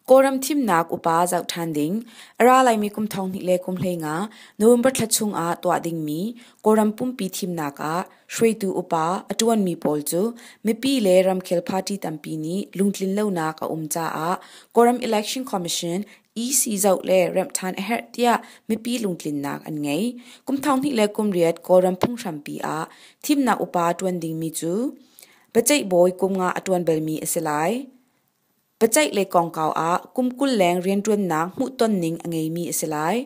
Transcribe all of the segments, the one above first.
Kawlram thimnak upa zoh ṭhan ding a ra laimi kum thonghnih le kum hleinga November thla chung ah tuah dingmi Kawlram pumpi thimnak ah hruaitu upa a ṭuanmi pawl cu mipi le ramkhel party tampi nih lungtlin lonak a um caah Kawlram Election Commission i si zoh le remh ṭhan a herh tiah mipi lungtlinnak an ngei. Kum thonghnih le kum riat Kawlram phunghrampi ah thimnak upa ṭuan dingmi cu paceih bawi kum nga a ṭuan balmi a si lai. Paceih le kongkau ah kum kul leng rianṭuannak hmuhton ning a ngeimi a si lai.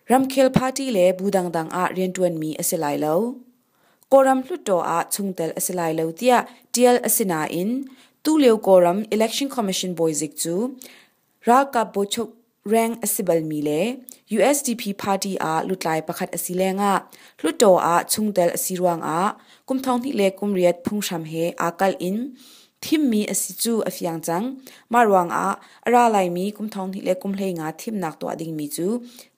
Ramkhel party le bu dangdang ah rianṭuanmi a si lai lo. Kawlram hluttaw ah chungtel a si lai lo tiah ṭial a si nain tulio Kawlram Election Commission bawizik cu ralkap bawchuk rank a si balmi le USDP party ah lutlai pakhat a si lengah hluttaw ah chungtel a si ruangah kum thonghnih le kum riat phunghram he aa kalh in Thimmi a si cu a fiang cang. Mah ruangah a ra laimi kum thonghnih le kum hleinga thimnak tuah dingmi cu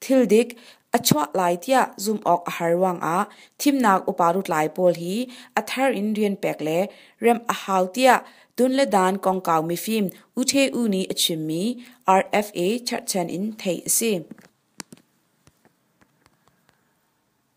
thil dik a chuah lai tiah zumh awk a har ruangah thimnak upa lutlai pawl hi a thar in rian pek le remh a hau tiah tun le dan kongkau mifim U Ṭhe U nih a chimmi RFA cherhchan in theih a si.